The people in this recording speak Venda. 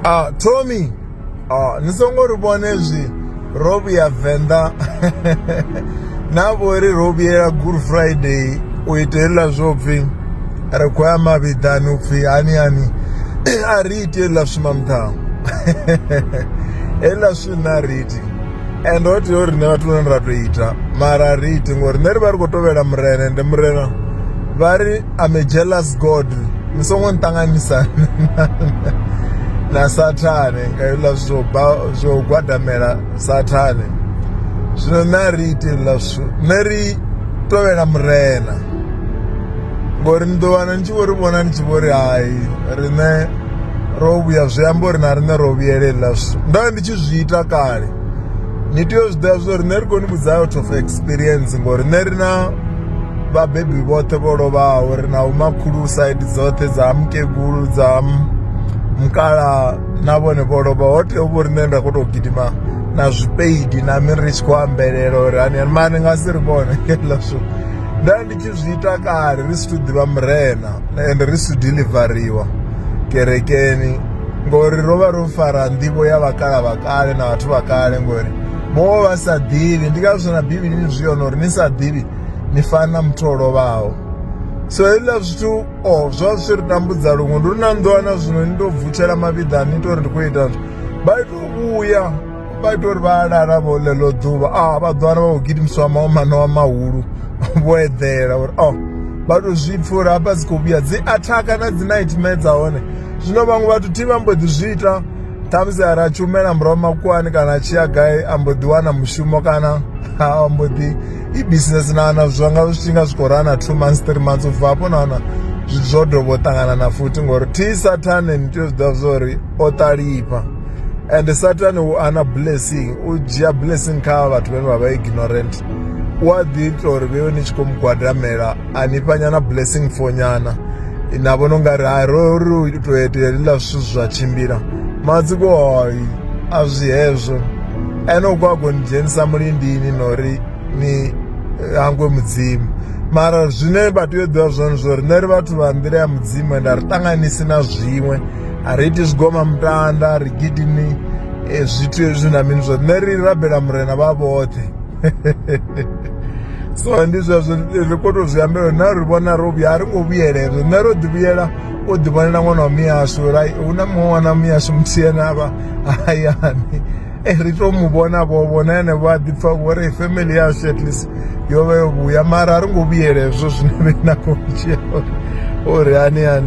a Tommy a ni songo ri vhone zwi ro vhuya venḓa na vhori ro vhuyela good friday u ita heḽa zwo pfhi ri khou ya mavhiḓani u pfhi hani hani a ri iti heḽa zwithu mamuthaho heḽa zwithu nṋe a ri iti and ho tea uri nṋe vhathu vhane ra tou ita mara a ri iti ngori nṋe ri vha ri khou tovhela murena ende murena vha ri I'm a jealous God ni songo nṱanganisa na sathane nga hezwiḽa zwo zwo gwadamela sathane zwino nṋe a ri iti hezwiḽa zwithu nṋe ri tovhela murena ngori ni ḓo wana ni tshi vho ri vhona ni tshi vho ri hai riṋe ro vhuya zwi amba uri na riṋe ro vhuyela hezwiḽa zwithu ndo ndi tshi zwi ita kale ni tea u zwi ḓivha zwa uri nṋe ri koni vhudza out of experience ngori nṋe ri na vhabebi vhoṱhe vho lovhaho ri na vhomakhulu side dzoṱhe dza ha mukegulu dza ha mukalaha na vhone vho lovha ho tea u vho riṋe nda khou tou gidima na zwipeidi na mini ri tshi khou ambelela uri hani hani mara ni nga si ri vhone heḽa zwithu nda ndi tshi zwi ita kale ri si thu ḓivha murena ende ri si delivariwa kerekeni ngori ro vha ro fara nḓivho ya vhakala vha kale na vhathu vha kale ngori vho vha sa ḓivhi ndi ngazwo na bivhilini zwi yone uri ni sa ḓivhi ni fana na muthu o lovhaho so hezwiḽa zwithu o oh, zwa zwi ri tambudza luṅwe ndi uri na ni ḓo wana zwino ni tou vutshela mavhiḓa ni ita uri ndi khou ita zwo vha ita u vhuya vha ita uri vha lala vho ḽeḽo ḓuvha a ah, vha ḓo wana vha khou gidimisiwa mawo manowa mahulu vho eḓela uri o oh, vha tou zwi pfha uri hafha dzi khou vhuya dzi athaka na dzi nightmare dza hone zwino vhaṅwe vhathu thi vha mbo ḓi zwi ita ṱhamusi a ra tshumela murahu makuwani kana a tshi ya gai a mbo ḓi wana mushumo kana a mbo ḓi i-business na na zwa nga zwi nga zwi khou rana two months three months ubva hafho na wana zwithu zwo dovha u ṱangana na futhi ngori thi sathane ni tea u zwiḓivha zwa uri o ṱalifha and sathane u ana blessing u dzhia blessing kha vhathu vhane vha vha ignorant u a ḓi ita uri vheiwe ni tshi khou mu gwadamela a ni fhanyana blessing fonyana na vhona ungari ha ro ri u tou etelela zwithu zwa tshimbila matsiko a zwi hezwo ene u khou a khou ni dzhenisa mulindini na uri ni hangwe mudzimu mara zwine vha tea u ḓivha zwone zwo ri nṋe ri vhathu vha nḓila ya mudzimu ende a ri ṱanganisi na zwiṅwe a ri iti zwigoma mutanda a ri gidimi eh, zwithu hezwi na mini zwoṱhe nṋe ri rabela murena vha vhoṱhe so ndi zwezwo ri kho to zwi ambela na ri vhona ro vhuya a ri ngo vhuyela hezwo nṋe ro ḓi vhuyela o ḓi vhonela ṅwana wa miyashu hu na muṅwe ṅwana miyashu muthihi ane avha hayani e ri to mu vhona vho vhona ene vho a ḓipfa vho ri family yashu at least yo vha yo vhuya mara a ri ngo vhuyela hezwo zwine vhe na khou dzhia uri hani hani